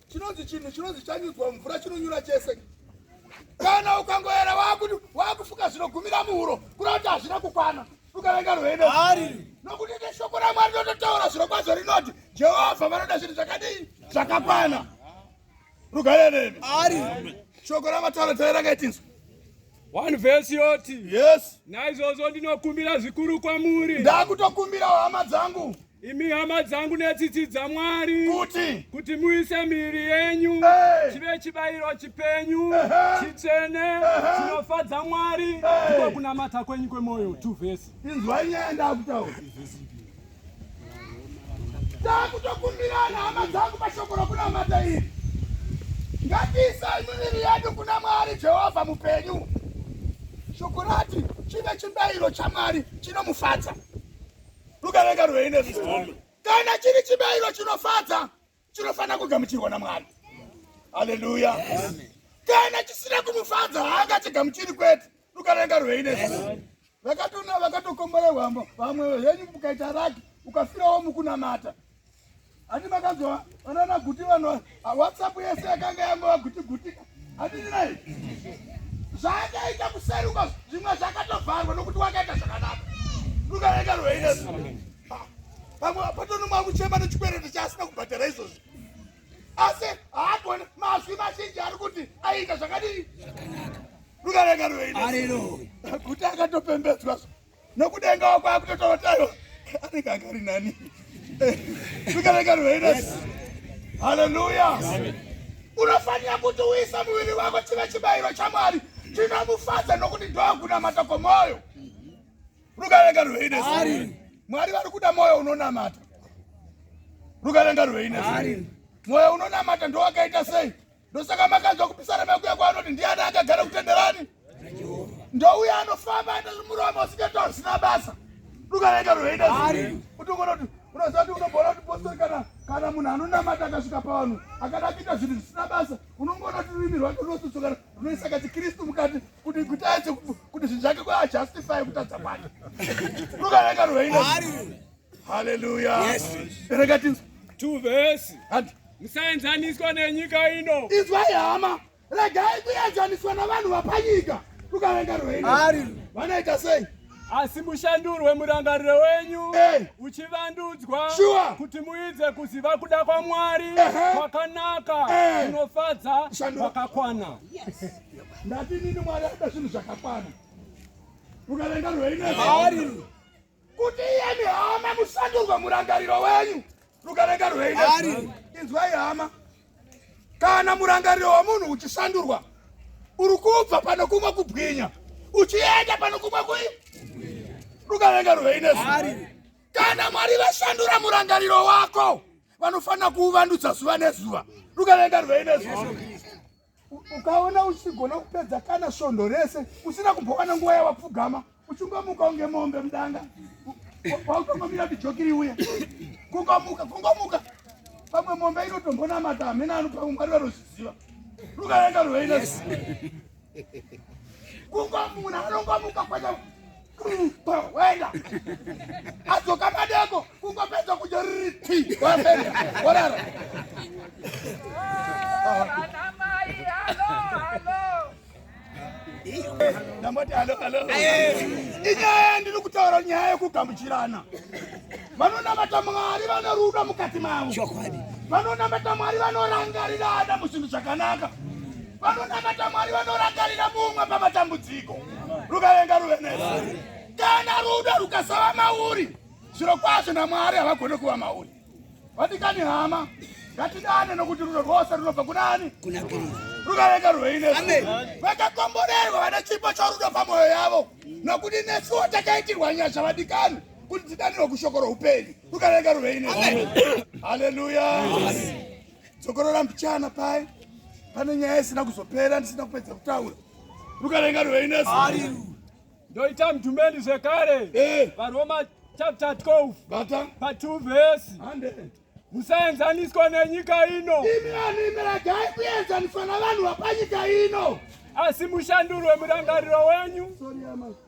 chinonzi chinhu chinonzi chanyudzwa mvura chinonyura chese kana ukangoera wakuti wakufuka zvinogumira muhuro kuda kuti hazvina kukwana ukavenga rwendo nokuti neshoko ramwari ndototaura zviro kwadzo rinoti jehovha vanoda zvinhu zvakadii zvakakwana rugare nemi shoko ramataura tairanga itinzwa one verse yoti yes naizvozvo ndinokumbira zvikuru kwamuri ndakutokumbira hama dzangu Imi hama dzangu netsitsi dzaMwari, kuti kuti muise miviri yenyu hey. chive chibayiro chipenyu uh -huh. chitsvene uh -huh. chinofadza Mwari hey. ndiko kunamata kwenyu kwemwoyo two vhesi inzwai nyaya ndakutaura takutokumbirana hama dzangu pashoko rokunamata iri ngatiisai miviri yedu kuna Mwari Jehovha mupenyu shoko rati chive chibayiro chaMwari chinomufadza rukareka rweine zvikombe kana chiri chibayiro chinofadza chinofanira kugamuchirwa namwari haleluya kana chisina kumufadza haangachigamuchiri kwete rukareka rweine zvikombe vakatona vakatokomborerwamo vamwe henyu ukaita raki ukafirawo mukunamata Handi makanzwa vanana guti vanhu WhatsApp yese yakanga yangova guti guti. Handini naye. Zvaakaita kuseruka zvimwe zvakatovharwa nokuti wakaita zvakanaka. Rukareka rweine. Pamwe patoni mwakuchema nechikwereti chaasina kubhadhara izvozvi. Asi haagone mazwi mazhinji ari kuti aita zvakadii? Zvakanaka. Rukareka rweine. Haleluya. Guti akatopembedzwa. nokudengawo kwakutotovataiwa anenge akari nani zvikareka rweinas haleluya unofanira kuti uisa muviri wako chive chibayiro chamwari chinomufadza nokuti ndokunamata kwomwoyo rukareka rweinas mwari vari kuda mwoyo unonamata rukareka rweinas mwoyo unonamata ndowakaita sei ndosaka makanzwa kupisana mekuya kwaanoti ndiani akagara kutenderani ndouya anofamba aita zvimuromo usingati hazvina basa dukanaika roenda kuti ungonoti unoziva kuti unogona kuti postori kana kana munhu anonamata akasvika pavanhu akada akuita zvinhu zvisina basa unongoona kuti rurimi rwake runosotsokana runoisa kachikristu mukati kuti kuti aise kuti zvinhu zvake kwaajustify kutadza kwake rukanaika roenda Hallelujah. Yes. Rega tinzwe. Two verse. And musaenzaniswa nenyika ino. Izwai hama. Regai kuenzaniswa navanhu vapanyika. Tukavenga rwendo. Ari. Vanoita sei? asi mushandurwe murangariro wenyu hey. Eh. uchivandudzwa sure. kuti muidze kuziva kuda kwamwari kwakanaka uh eh. -huh. kunofadza kwakakwana yes. ndati nini mwari ada zvinhu zvakakwana ukavenga rweinezvaari kuti iyemi hama musandurwe murangariro wenyu rukarenga rweida inzwai hama kana murangariro wemunhu uchisandurwa uri kubva pano kumwe kubwinya uchienda pano kumwe kui rukarenga rweinesu kana mwari vasandura murangariro wako vanofanira kuuvandudza zuva nezuva rukarenga rweinesu Ukaona uchigona kupedza kana svondo rese usina kumbokana nguva yawapfugama uchingomuka unge mombe mudanga wautongomira bijokiri uye kungomuka kungomuka pamwe mombe inotombonamata hamena anopa mwari vanozviziva rukaenga rweiles kungomuka anongomuka kwaa wenda adzoka madeko kungopedza kudya riti wapenda warara ndamboti halo halo inyaya yandiri kutaura nyaya yekugamuchirana vanonamata mwari vane rudo mukati mavo chokwadi vanonamata mwari vanorangarirana muzvinhu zvakanaka vanonamata mwari vanorangarira mumwe pamatambudziko rukavenga ruve nesu kana rudo rukasava mauri zviro kwazvo namwari havagone kuva mauri vadikani hama ngatidane nokuti rudo rwose runobva kunani rukavenga ruvei nesu vakakomborerwa vane chipo chorudo pamwoyo yavo nokuti nesuwo takaitirwa nyasha vadikani kuti tidanirwe kushoko roupenyu rukarega ruvei ne haleluya dzokorora mbichana paye pane nyaya isina kuzopera ndisina kupedza kutaura rukarenga ruvei nesu ndoita mdhumeni zvekare eh. varoma chapter 12 bata pa 2 verse musaenzaniswa nenyika ino imi vanhu imi ragai kuenzaniswa navanhu vapanyika ino asi mushandurwe murangariro wenyu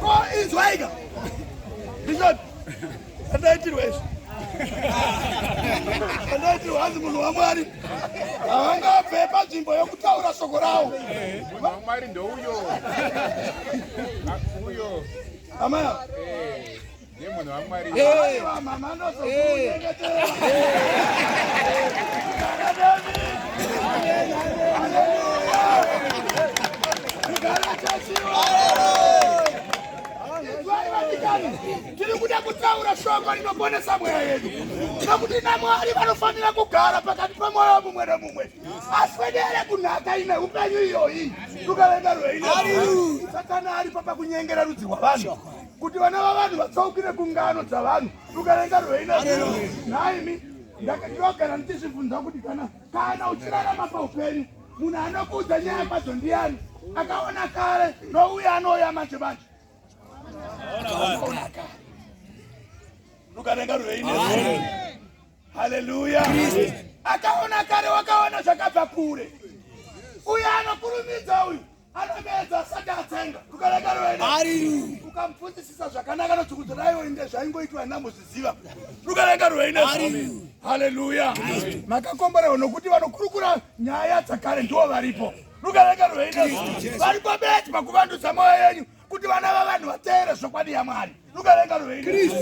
Ko izwaika. Bishop. Andaitirwa izvi. Andaitirwa hanzi munhu waMwari. Havangabve panzvimbo yokutaura shoko rawo. Munhu waMwari ndouyo. Uyo. Amaya. Eh. Yemunhu waMwari. Hey, mama ndozo. Hey. tiri kuda kutaura shoko rinoponesa mweya yedu nokuti namwari vanofanira kugara pakati pemwoyo mumwe nemumwe aswedere kunhaka ine upenyu iyoyi tukavenda rweine satana aripo pakunyengera rudzi rwavanhu kuti vana vavanhu vatsaukire kungano dzavanhu rukarenga rweina nhaimi ndinogara ndichizvibvunza kuti kana kana uchirarama paupenyu munhu anokuudza nyaya kwadzo ndiyani akaona kare nouye anouya manje manje rukarenga rweina haleluya akaona kare wakaona zvakabva kure uyo anokurumidza uyu atemedza asati atsenga kukarekaro rwene ukamupfudzisisa zvakanaka nodzvukudza raiwo inge zvaingoitwa namuzviziva rukareka rwene haleluya makakomborewa nokuti vanokurukura nyaya dzakare ndiwo varipo rukareka rwene varipo beti pakuvandudza mwoyo yenyu kuti vana vavanhu vateere zvokwadi yamwari rukareka rwene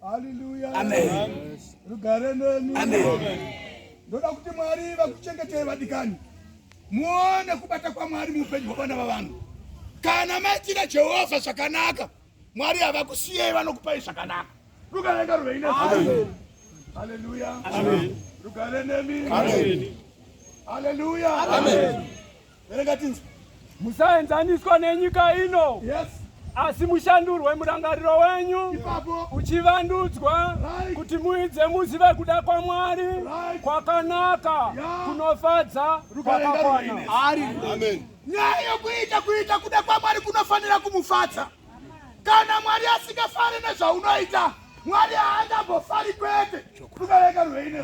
haleluya rugare neni ndoda kuti mwari vakuchengetei vadikani muone kubata kwaMwari muupenyu hwevana vavanhu. Kana maitira Jehovha zvakanaka, Mwari havakusiyei, vanokupai zvakanaka. Rugare ngaruve ine Haleluya. Rugare nemi. Haleluya. Verenga tinzi. Musaenzaniswa nenyika ino. Yes. asi mushandurwe murangariro wenyu uchivandudzwa kuti muidze muzive kuda kwaMwari kwakanaka kunofadza kwakakwana. Nyaya yokuita kuita kuda kwaMwari kunofanira kumufadza. Kana Mwari asingafari nezvaunoita, Mwari haangambofari kwete. Kubereka ruine.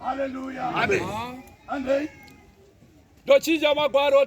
Hallelujah. Amen. Andei. Ndochinja magwaro